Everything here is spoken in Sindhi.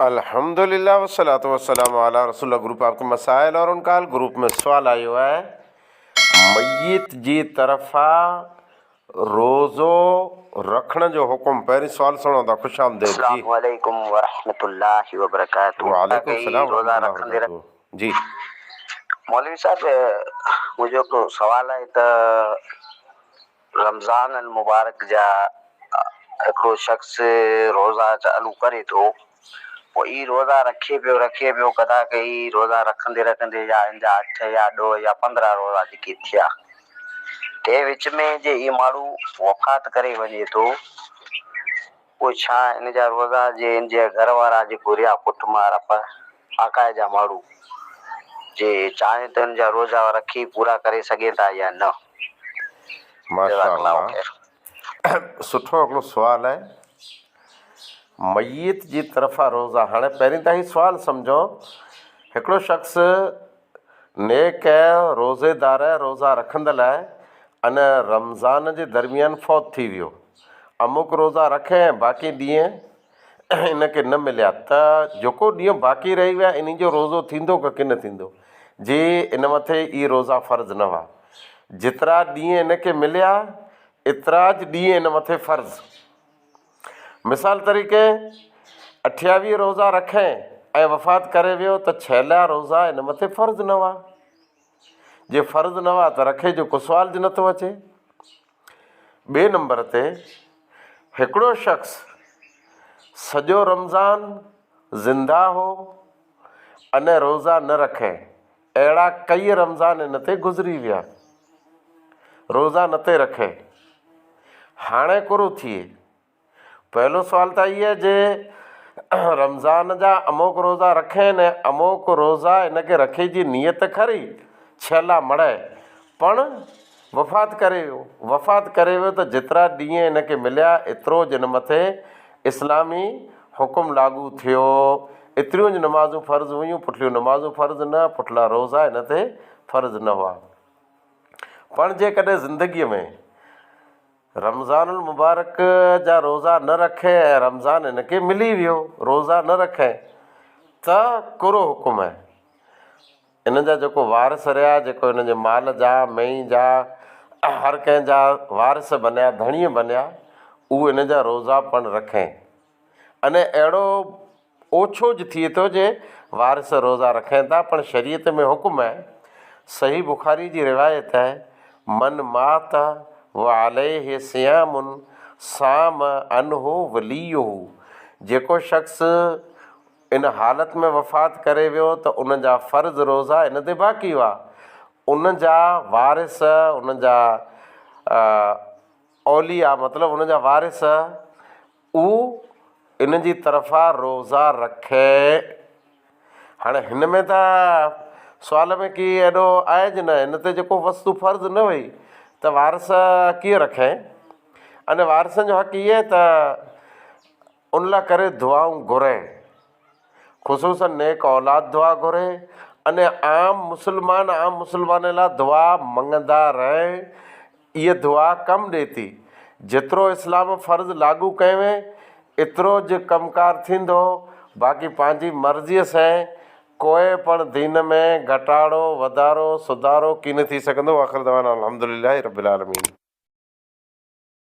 الحمد لله والصلوۃ والسلام علی رسول الله گروپ آپ کے مسائل اور ان کا حل گروپ ۾ سوال آيو آهي ميت جي طرفان روزو رکڻ جو حڪم پهرين سوال سڻو ٿا خوش آمديد جي اسلام عليڪم ورحمة الله وبرڪاته وعليڪم السلام ورحمة الله وبرڪاته جي مولوي صاحب منهنجو هڪ سوال آهي ته. رمضان المبارڪ جا هڪڙو شخص روزا چالو ڪري ٿو پوء هي روزا رکي پيو رکي پيو قضا ڪئي روزا رکندي رکندي يا هن جا اٺ يا ڏهه يا پندرهن روزا جيڪي ٿيا تنهن وچ ۾ جي هي ماڻهو وفات ڪري وڃي ٿو. پوء ڇا ان جا روئگا جي ان جي گهر وارا جيڪو رهيا پٽ مار اپ آڪاهي جا ماڙهو جي چاهين ته ان جا روزا رکي پورا ڪري سگهين ٿا يا نه جزاڪ الله خير. سٺو هڪڙو سوال آهي ميت جي طرفان روزا هاڻي پهرين ته هي سوال سمجهو هڪڙو شخص نيڪ روزيدار روزا رکندڙ لاء ان رمضان جي درميان فوت ٿي ويو. اموڪ روزا رکي ۽ باقي ڏينهن ان کي نه مليا ته جيڪو ڏينهن باقي رهي ويا انهي جو روزو ٿيندو ڪه ڪي نه ٿيندو جي ان مٿي اهي روزا فرض نه هئا جيترا ڏينهن ان کي مليا اتراج ڏينهن ان مٿي فرض. مثال طريقي، اٺياويهه روزا رکي ۽ وفات ڪري ويو ته ڇيلها روزا ان مٿي فرض نه هئا. جي فرض نه هئا ته رکي جو ڪسوال جي نٿو اچي. ٻئي نمبر تي هڪڙو شخص سڄو رمضان زنده هو اني روزا نه رکي. اهڙا ڪيئي رمضان هن تي گذري ويا. روزا نٿي رکي. هاڻي ڪورو ٿئي. پهلو سوال ته هيء جي رمضان جا اموڪ روزا رکين ۽ اموڪ روزا هن کي رکي جي نيت کري ڇيلا مڙهي پڻ وفات ڪري ويو، وفات ڪري ويو ته جيترا ڏينهن هن کي مليا ايترو جن مٿي اسلامي حڪم لاڳو ٿيو، ايتريون جون نمازون فرض هيون، پٺليون نمازون فرض نه، پٺلا روزا هن تي فرض نه هئا. پڻ جيڪڏهن زندگيء ۾ رمضان المبارڪ جا روزا نه رکئي ۽ رمضان هن کي ملي ويو روزا نه رکئي ته ڪهڙو حڪم هي؟ هنن جا جيڪو وارث رهيا، جيڪو هنن جي مال جا، مينهن جا، هر ڪنهن جا وارث بنيا، ڌڻي بنيا، اهو هنن جا روزا پڻ رکين. انهي اهڙو اوڇو ج ٿئي ٿو جي وارث روزا رکين ٿا پڻ شريعت ۾ حڪم آهي، صحيح بخاري جي روايت آهي، من مات وعليه صيام صام عنه وليه جيڪو شخص، ان حالت ۾ وفات ڪري ويو ته ان جا فرض روزا ان تي باقي هئا. ان جا وارث، ان جا اولياء مطلب ان جا وارث اهو ان جي طرفان روزا رکين. هاڻي هن ۾ ته سوال ۾ ڪي ايڏو آهي جي نه هن تي جيڪو وصف فرض نه هئي ته وارث ڪيئن رکين. ان وارثن جو حق هي ته ان لا ڪري دعائون گهرين خصوصن نيڪ اولاد دعا گهري اني عام مسلمان عام مسلمان لا دعا منگندا رهين اي دعا ڪم ڏي ٿي جيترو اسلام فرض لاڳو ڪيوين اترو ج ڪم ڪار ٿيندو باقي پنهنجي مرضي سين ڪوئي پڻ دين ۾ گهٽاڙو وڌارو سڌارو ڪين ٿي سگهندو واخر دعوانا الحمدلله رب العالمين.